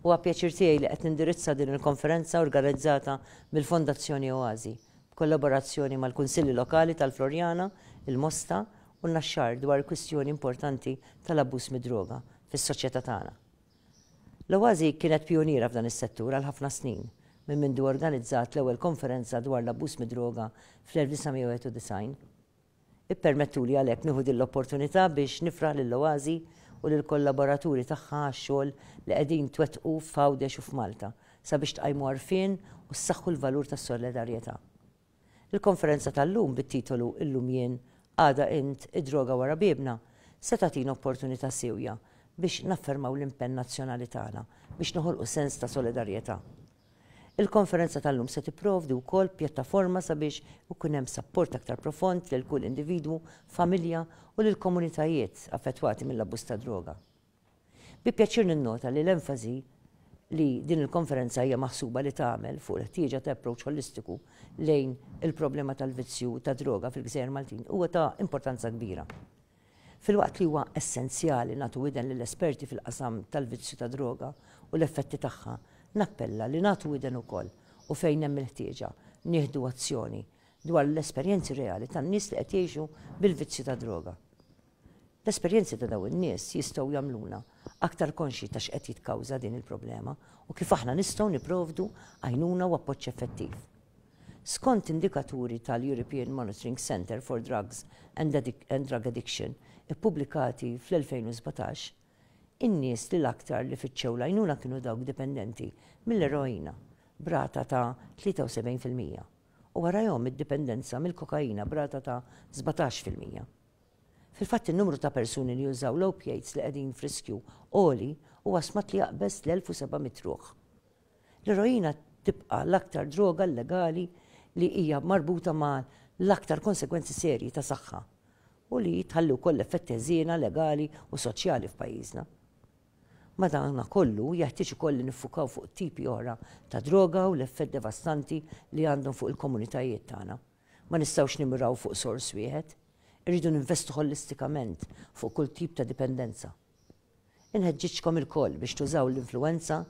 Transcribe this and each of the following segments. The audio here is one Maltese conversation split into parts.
Huwa pjaċir tiegħi li qed nindirizza din il-konferenza organizzata mill-Fondazzjoni Oasi, b'kollaborazzjoni mal-Kunsilli Lokali tal-Floriana, il-Mosta, u n-Naxxar dwar il-kwistjoni importanti tal-abbuż mid-droga fis-soċjetà tagħna. L-Oasi kienet pijuniera f'dan is-settur għal ħafna snin, minn mindu organizzat l-ewwel konferenza dwar l-abbuż mid-droga fl-1991. Ippermettuli għalhekk nieħu din l-opportunità biex nifraħ lill-Oasi u lill-kollaboraturi tagħha għax-xogħol li qegħdin twettqu f'Għawdex u f'Malta sabiex tqajmu għarfien u ssaħħu l-valur tas-solidarjetà. Il-konferenza tal-lum bit-titolu Illum jien, għada int, id-droga wara biebna se tagħtina opportunità siewja biex naffermaw l-impenn nazzjonali tagħna biex noħolqu sens ta' solidarjetà. Il-konferenza tal-lum se tipprovdi wkoll pjattaforma sabiex ikun hemm sapport aktar profond lil kull individwu, familja u lill-komunitajiet affettwati mill-abbuż tad-droga. Bi pjaċir ninnota li l-enfasi li din il-konferenza hija maħsuba li tagħmel fuq il-ħtieġa ta' approach ħolistiku lejn il-problema tal-vizzju tad-droga fil-gżejjer Maltin huwa ta' importanza kbira. Filwaqt li huwa essenzjali nagħtu widen lill-esperti fil-qasam tal-vizzju tad-droga u l-effetti tagħha, nappella li nagħtu widen ukoll, u fejn hemm il-ħtieġa, nieħdu azzjoni, dwar l-esperjenzi reali tan-nies li qed jgħixu bil-vizzju tad-droga. L-esperjenzi ta' dawn in-nies jistgħu jagħmluna aktar konxji ta' x'qed jitkawża din il-problema u kif aħna nistgħu nipprovdu għajnuna u appoġġ effettiv. Skont indikaturi tal-European Monitoring Centre for Drugs and Drug Addiction ippubblikati fl-2017, in-nies li l-aktar li fittxew l-għajnuna kienu dawk dipendenti mill-eroina b'rata ta' 73 fil-mija u warajhom id-dipendenza mill-kokaina b'rata ta' 17 fil-mija. Fil-fatt in-numru ta' persuni li jużaw l-opiates li qegħdin f'riskju għoli huwa stmat li jaqbeż l-1,700 ruħ. L-eroina tibqa' l-aktar droga llegali li hija marbuta ma' l-aktar konsegwenzi serji ta' saħħa u li tħalli wkoll effetti ħżiena legali u soċjali f'pajjiżna. Madanakollu, jeħtieġ ukoll li niffukaw fuq tipi oħra ta' droga u l-effett devastanti li għandhom fuq il-komunitajiet tagħna. Ma nistgħux nimmiraw fuq sors wieħed. Irridu ninvestu ħolistikament fuq kull tip ta' dipendenza. Inħeġġiġkom ilkoll biex tużaw l-influwenza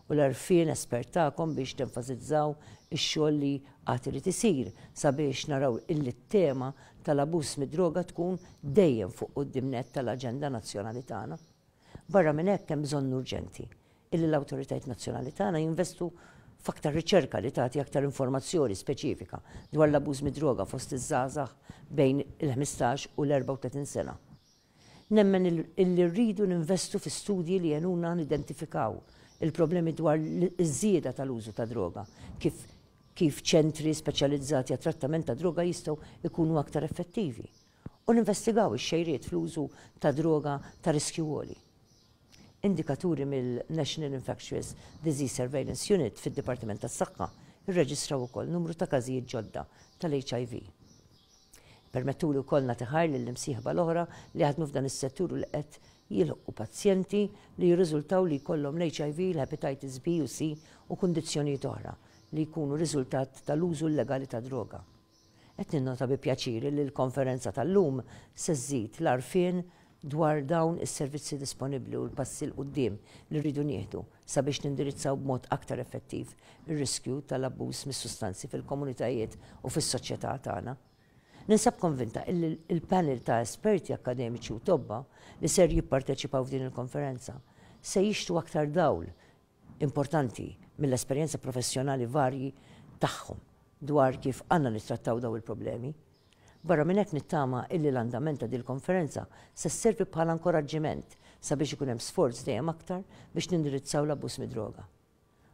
u l-għarfien espert tagħkom biex tenfasizzaw ix-xogħol li għad irid isir sabiex naraw illi t-tema tal-abuż mid-droga tkun dejjem fuq quddiem nett tal-aġenda nazzjonali tagħna. Barra minn hekk hemm bżonn urġenti illi l-awtoritajiet nazzjonali tagħna jinvestu f'aktar riċerka li tagħti aktar informazzjoni speċifika dwar l-abuż mid-droga fost iż-żgħażagħ bejn il-ħmistax u l-erbgħa u tletin sena. Nemmen illi rridu ninvestu fi studji li jgħinuna nidentifikaw il-problemi dwar iż-żieda tal-użu tad-droga, kif kif ċentri speċjalizzati għat-trattament tad-droga jistgħu jkunu aktar effettivi, u ninvestigaw ix-xejriet fl-użu ta' droga ta' riskju għoli. Indikaturi mill-National Infectious Disease Surveillance Unit fid-Dipartiment tas-Saħħa rreġistraw ukoll numru ta' każijiet ġodda tal-HIV. Ippermettuli wkoll nagħti ħajr lill-imsieħba l-oħra li jaħdmu f'dan is-settur u li qed jilħqu pazjenti li jirriżultaw li jkollhom l-HIV, il-Hepatitis B u C u kundizzjonijiet oħra li jkunu riżultat tal-użu illegali tad-droga. Qed ninnota bi pjaċir li l-konferenza tal-lum se żżid l-għarfien dwar dawn is-servizzi disponibbli u l-passi 'l quddiem li rridu nieħdu sabiex nindirizzaw b'mod aktar effettiv ir-riskju tal-abbuż mis-sustanzi fil-komunitajiet u fis-soċjetà tagħna. Ninsab konvinta illi l-panel ta' esperti akkademiċi u tobba li ser jipparteċipaw f'din il-konferenza se jixhtu aktar dawl importanti mill-esperjenza professjonali varji tagħhom dwar kif għandna nittrattaw dawn il-problemi. Barra minn hekk nittama illi l-andament ta' dil-konferenza se sservi bħala nkoraġġiment sabiex ikun hemm sforz dejjem aktar biex nindirizzaw l-abbuż mid-droga.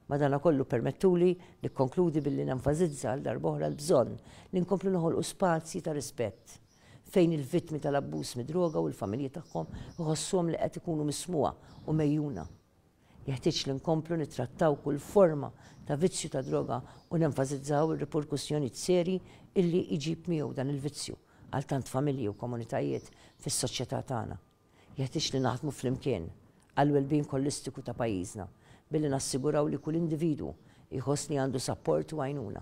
Madanakollu permettuli nikkonkludi billi nenfasizza għal darb'oħra l-bżonn li nkomplu noħolqu spazji ta' rispett fejn il-vittmi tal-abbuż mid-droga u l-familji tagħhom iħossuhom li qed ikunu mismugħa u megħjuna. Jeħtieġ li nkomplu nittrattaw kull forma ta' vizzju ta' droga u nenfasizzaw ir-riperkussjonijiet serji illi jġib miegħu dan il-vizzju għal tant familji u komunitajiet fis-soċjetà tagħna. Jeħtieġ li naħdmu flimkien għall-wellbeing ħolistiku ta' pajjiżna billi nassiguraw li kull individwu jħoss li għandu sapport u għajnuna.